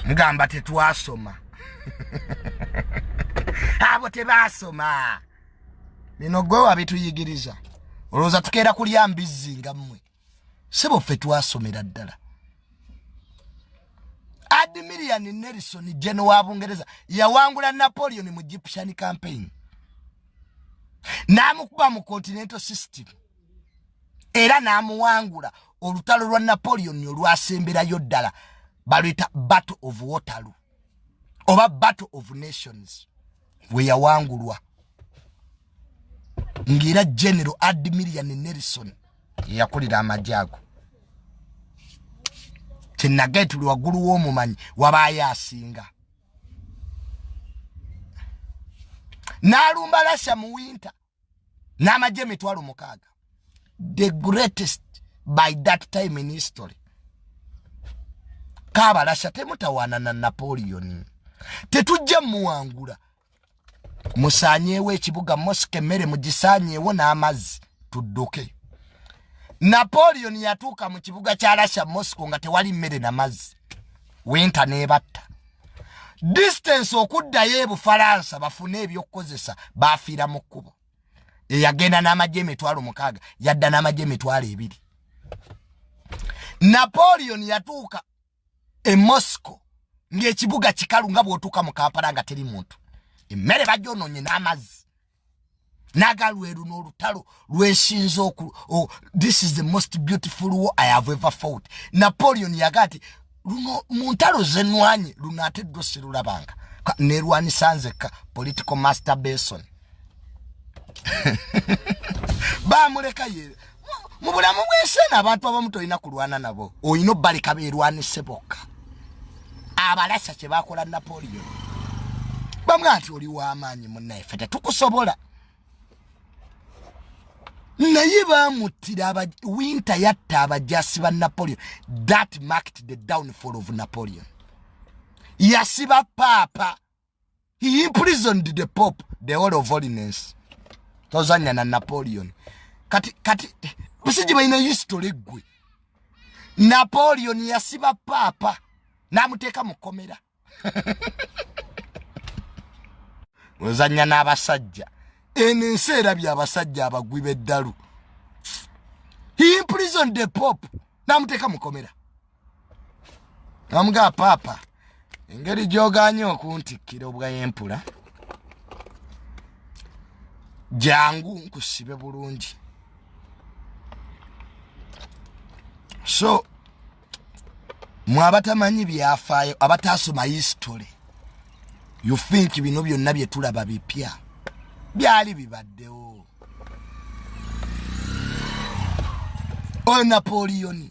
mugamba tetwasoma abo tebasoma bino gwe wabituyigiriza olowooza tukeera kulya mbizzi nga mmwe si buffe twasomera ddala admirian nelson gen wa bungereza yawangula napoleon mu egyptian campaign n'amukuba mu continental system era n'amuwangula olutalo lwa napoleon olwasemberayo ddala baluyita battle of waterloo oba battle of nations we yawangulwa ng'era general admirian nelson yeyakulira amagye ago kyenage tuli waggulu w'omumanyi wabaayo asinga n'alumba lasya mu winter n'amagye emitwalo mukaaga the greatest by that time in history kabalasha temutawaana na napoleon tetujja muwangula musaanyeewo ekibuga mosika emmere mugisaanyeewo n'amazzi tudduke napoleon yatuuka mu kibuga kya russia moscow nga tewali mmere na mazzi winta nebatta distance okuddayo ebufalansa bafune ebyokukozesa bafiira mu kkubo eyagenda n'amagye emitwalo mukaaga yadda n'amagye emitwalo ebiri napoleon yatuuka e mosco ng'ekibuga kikalu nga bw'otuuka mu kampala nga teri muntu emmere bagyonoonye n'amazzi naga lweru n'olutalo lwesinza oku oh, this is the most beautiful war i have ever fought napoleon yaga nti luno mu ntalo zenwanye luno ate ddwo sirulabanga nerwanisanzekka political master bason bamuleka ye mu bulamu bw'enseena abantu abamu tolina kulwana nabo olina obbaleka beerwanise bokka abalasa kye bakola napoleon bamwe nti oli w'amaanyi munnaife tetukusobola naye bamuttira winter yatta abajasi ba napoleon that marked the downfall of napoleon yasiba paapa he imprisoned the pope the whole of holiness tozanya na napoleon kati kati busiji bayina history gwe napoleon yasiba papa namuteka mukomera ozanya n'abasajja eno ensi erabye abasajja abagwi beddalu he imprisoned the pope namuteka mukomera namugaa paapa engeri gyoganye okuntikkira obwayempula jangu nkusibe bulungi so mwe abatamanyi byafaayo abataasoma history you think bino byonna bye tulaba bipya byali bibaddewo oyo napoleoni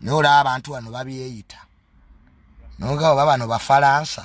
naye olaba abantu bano babyeyita noga oba bano bafalansa